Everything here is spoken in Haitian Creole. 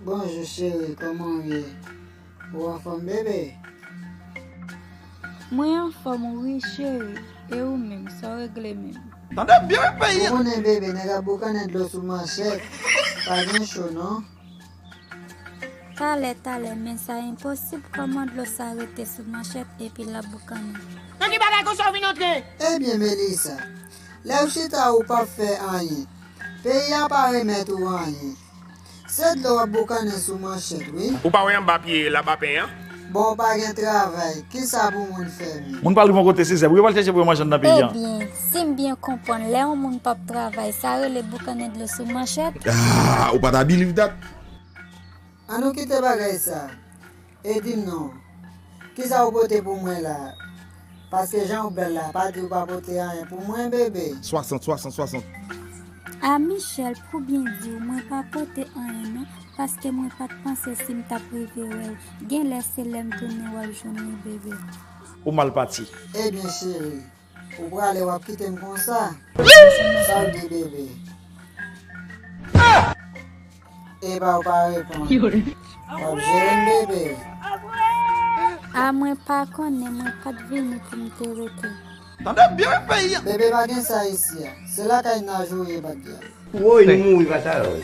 Bonjou cheri kòman ou ye ou anfòm bebe. Mwen anfòm wi cheri e ou menm sa w regle menm. Tande byen wi peyi an. Ou konnen bebe nèg ap boukannen dlo sou manchèt pa gen cho non. Talè talè men sa enposib koman dlo sa rete sou manchèt epi lap boukannen. Nan ki bagay konsa ou vin antre? Ebyen Melissa, lèw chita ou pap fè anyen, peyi a pa remèt ou anyen. Se dlo wap boukannen sou manchèt wi. Ou pa wè anba pye labapen an? Bon ou pa gen travay, kisa pou moun fè menm? Moun pa rive yon kote se zèb yo pral chèche pou yo manje anndan peyi an. Ebyen, si m byen konprann, lè yon moun pap travay, sa rele boukannen dlo sou manchèt? Aah! Ou pa ta biliv dat? An nou kite bagay sa. E di m non, kisa ou pote pou mwen la a? Paske jan ou bèl la pa di ou pa pote anyen pou mwen bebe. 60 60 60. Ah Michel pou byen diw mwen pa pote anyen non paske mwen pat panse sim tap rive wèl genlè se lèm tounen wap jwenn li bebe. Ou mal pati. Ebyen cheri ou prale wap kitem konsa? Sa ou di bebe. Epa ou pa reponn. Wap jerem bebe. Ah mwen pa konnen mwen pat vini pou m te rete. Tande byen wi peyi an. Bebe pa gen sa isi a. Se lakay naj ou ye batbyan. Woy nou mouri fatal woy.